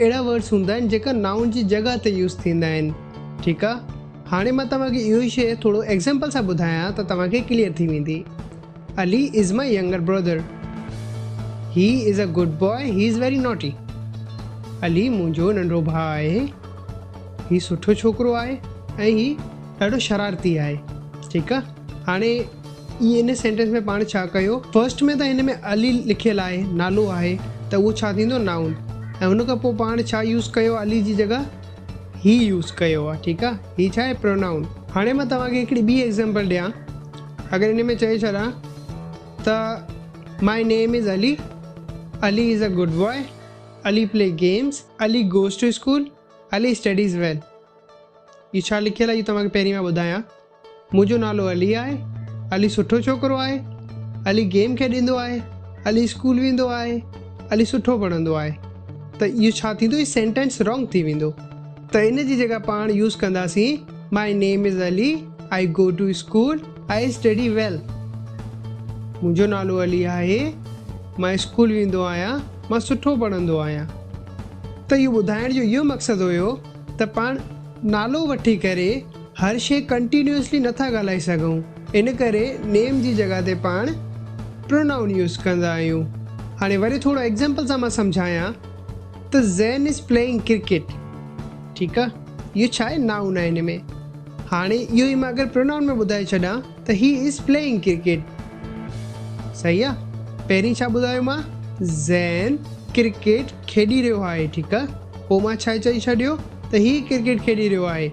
اهڙا ورڊز هوندا آهن جيڪا نائون جي جڳهه تي يوز ٿيندا آهن ٺيڪ آ هاڻي مان توهان کي اهو شي ٿورو ايگزامپل سان ٻڌايان ته توهان کي ڪليئر ٿي ويندي Ali is my younger brother he is a good boy he is very naughty Ali منهنجو ننڍو ڀاء آهي هي سٺو ڇوڪرو آهي ۽ هي ڏاڍو شرارتي آهي ٺيڪ آ هاڻي ان سينٽينس ۾ پاڻ ڇا ڪيو فرسٽ ۾ ته هن ۾ علي لکيل آهي نالو آهي ته اهو ڇا ٿيندو نائون ۽ ان کان پوء پاڻ ڇا يوز ڪيو علي جي جڳهه هي يوز ڪيو آهي ٺيڪ آهي هي ڇا آهي پرونائون هاڻي مان توهان کي هڪڙي ٻي ايگزامپل ڏيان اگر ان ۾ چئي ڇڏان ته my name is Ali Ali is a good boy Ali play games Ali goes to school Ali studies well هي ڇا لکيل آهي توهان کي پهرين مان ٻڌايان منهنجو نالو علي آهي. علي سٺو ڇوڪرو آهي. علي گيم کيڏيندو آهي. علي اسڪول ويندو آهي. علي سٺو پڙهندو آهي. ته اهو ڇا ٿيندو هي سينٽينس رانگ ٿي ويندو. ته ان جي جڳهه پاڻ يوز ڪنداسين my name is Ali I go to school I study well منهنجو نالو علي آهي مان اسڪول ويندو آهيان مان سٺو پڙهندو آهيان. ته اهو ٻڌائڻ جو اهو مقصد هيو ته پاڻ نالو وٺي ڪري. هر شيء ڪنٽينيوسلي نٿا ڳالهائي سگهون ان ڪري نيم جي جڳهه تي پاڻ پرونائون يوز ڪندا آهيون هاڻي وري ٿورو ايگزامپل سان مان سمجهايان ته زين از پليئنگ ڪرڪيٽ ٺيڪ آ اهو ڇا آهي نائون آهي هن ۾ هاڻي اهو ئي مان اگر پرونائون ۾ ٻڌائي ڇڏان ته هي از پليئنگ ڪرڪيٽ صحيح آ پهرين ڇا ٻڌايو مان زين ڪرڪيٽ کيڏي رهيو آهي ٺيڪ آ پوء مان ڇا چئي ڇڏيو ته هي ڪرڪيٽ کيڏي رهيو آهي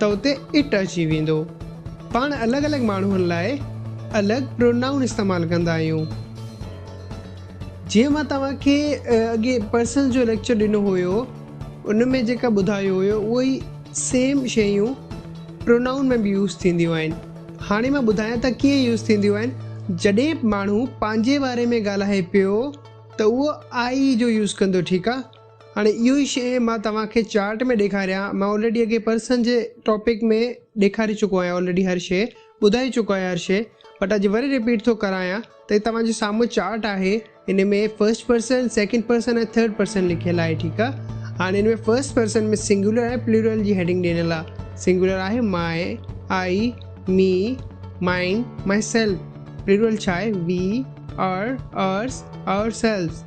ته اتي It اچي ويندو. پاڻ الڳ الڳ ماڻهن لاء الڳ پرونائون استعمال ڪندا آهيون. جيئن مان توهان کي اڳي پرسنز جو ليڪچر ڏنو هيو ان ۾ جيڪا ٻڌايو هيو اهو ئي سيم شيون پرونائون ۾ به يوز ٿينديون آهن. هاڻي مان ٻڌايان ته ڪيئن يوز ٿينديون آهن. جڏهن ماڻهو پنهنجي باري ۾ ڳالهائي پيو ته اهو I جو يوز ڪندو ٺيڪ آ. هاڻي اهو ئي شيء مان توهان کي چارٽ ۾ ڏيکاريان، مان آلريڊي اڳي پرسن جي ٽاپڪ ۾ ڏيکاري چڪو آهيان آلريڊي هر شيء ٻڌائي چڪو آهيان هر شيء بٽ اڄ وري رپيٽ ٿو ڪرايان ته هي توهان جي سامهون چارٽ آهي ان ۾ first person, second person ۽ third person لکيل آهي ٺيڪ آهي هاڻي ان ۾ فرسٽ پرسن ۾ سنگيولر ۽ پليورل جي هيڊنگ ڏنل آهي سنگيولر آهي my, I, me, mine, myself plural ڇا آهي we, our, ours, ourselves.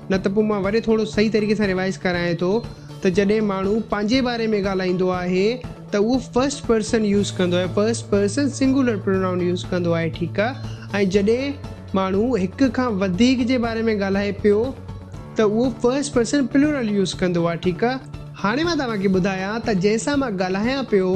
نه ته پوء مان وري ٿورو صحيح طريقي سان ريوائز ڪرايان ٿو ته جڏهن ماڻهو پنهنجي باري ۾ ڳالهائيندو آهي ته اهو فرسٽ پرسن يوز ڪندو آهي first person singular pronoun use ڪندو آهي ٺيڪ آهي ۽ جڏهن ماڻهو هڪ کان وڌيڪ جي باري ۾ ڳالهائي پيو ته اهو فرسٽ پرسن پلورل يوز ڪندو آهي ٺيڪ آهي. هاڻي مان توهان کي ٻڌايان ته جنهن سان مان ڳالهايان پيو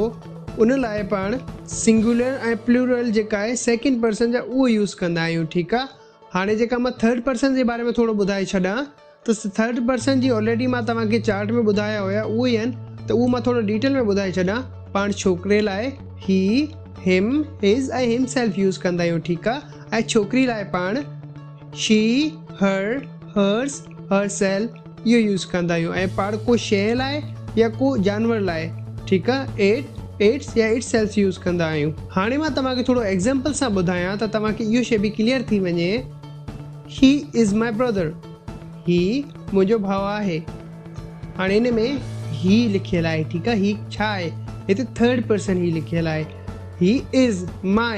ان لاء پاڻ سنگولر ۽ پلورل جيڪا آهي سيڪنڊ پرسن جا اهو يوز ڪندا آهيون ٺيڪ آهي. هاڻي جيڪا مان ٿرڊ پرسن جي باري ۾ ٿورو ٻڌائي ڇڏان ته ٿرڊ پرسن جي آلريڊي مان توهان کي چارٽ ۾ ٻڌايا هيا اهو ئي آهن ته اهو مان ٿورو ڊيٽيل ۾ ٻڌائي ڇڏان پاڻ ڇوڪري لاء he him his ۽ himself use ڪندا آهيون ٺيڪ آهي ۽ ڇوڪري لاء پاڻ she her hers herself اهو يوز ڪندا آهيون ۽ پاڙ ڪو شيء لاء يا ڪو جانور لاء ٺيڪ آ ايٽ ايٽس يا اٽ سيلس يوز ڪندا آهيون. هاڻي مان توهان کي ٿورو ايگزيمپل سان ٻڌايان ته توهان کي اهو شيء به ڪليئر ٿي وڃي هي از ماء برادر هي منهنجو ڀاء آهي هاڻي ان ۾ هي لکيل آهي ٺيڪ آ هي ڇا آهي هتي ٿرڊ پرسن هي لکيل آهي هي از ماء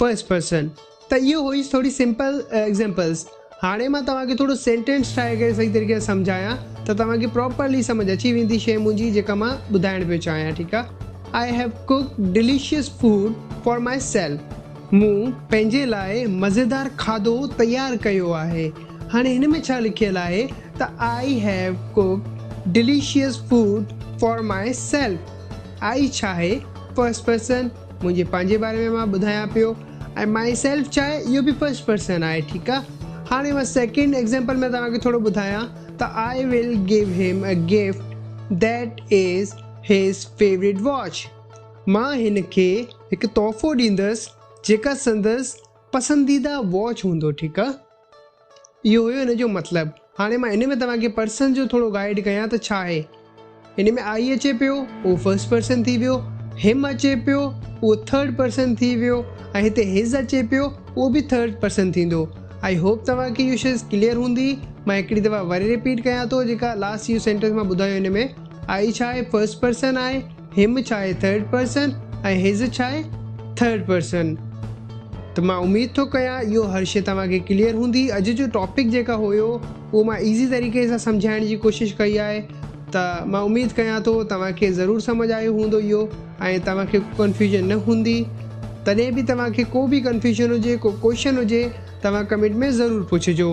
فرسٽ پرسن ته اهو هئي ٿوري سمپل ايگزامپلس هاڻي مان توهان کي ٿورو سينٽينس ٺاهي ڪري صحيح طريقي سان سمجهايان ته توهان کي پراپرلي سمجهه اچي ويندي شيء منهنجي جيڪا مان ٻڌائڻ پيو چاهيان ٺيڪ آهي آء have cook delicious food for myself مون پنهنجي لاء مزيدار کاڌو تيار ڪيو آهي هاڻي هن ۾ ڇا لکيل آهي ته آء have cook delicious food for myself I ڇا آهي فرسٽ پرسن منهنجي پنهنجي باري ۾ مان ٻڌايان پيو ۽ مائي سيلف ڇا آهي اهو به فرسٽ پرسن آهي ٺيڪ آ هاڻي مان سيڪنڊ ايگزيمپل ۾ توهان کي ٿورو ٻڌايان ته آئي will give him a gift that is his favourite watch مان هن کي هڪ تحفو ڏيندس جيڪا سندس پسنديده واچ هوندو ٺيڪ آ. اهو هيو ان جو مطلب. هاڻي مان ان ۾ توهان کي پرسن جو ٿورو گائيڊ ڪيان ته ڇا آهي. ان ۾ آئي اچي پيو، اهو فرسٽ پرسن ٿي ويو، هم اچي پيو، اهو ٿرڊ پرسن ٿي ويو ۽ هتي هز اچي پيو، اهو به ٿرڊ پرسن ٿيندو. آئي هوپ توهان کي اهو شيز ڪليئر هوندي. مان هڪڙي دفعا وري رپيٽ ڪيان ٿو جيڪا لاسٽ اهو سينٽينس مان ٻڌايو ان ۾ آئي ڇا آهي فرسٽ پرسن آهي. Him ڇا آهي ٿرڊ پرسن ۽ His ڇا آهي ٿرڊ پرسن ته مان اميد ٿو ڪيان اهو هر شي توهان کي ڪليئر هوندي اڄ جو ٽاپڪ جيڪا هيو اهو مان ايزي طريقي سان سمجهائڻ جي ڪوشش ڪئي آهي ته مان اميد ڪيان ٿو توهان کي ضرور سمجهه آيو هوندو اهو ۽ توهان کي ڪنفيوزن نه هوندي تڏهن به توهان کي ڪو به ڪنفيوزن هجي ڪو ڪوشچن هجي توهان ڪمينٽ ۾ ضرور پڇجو.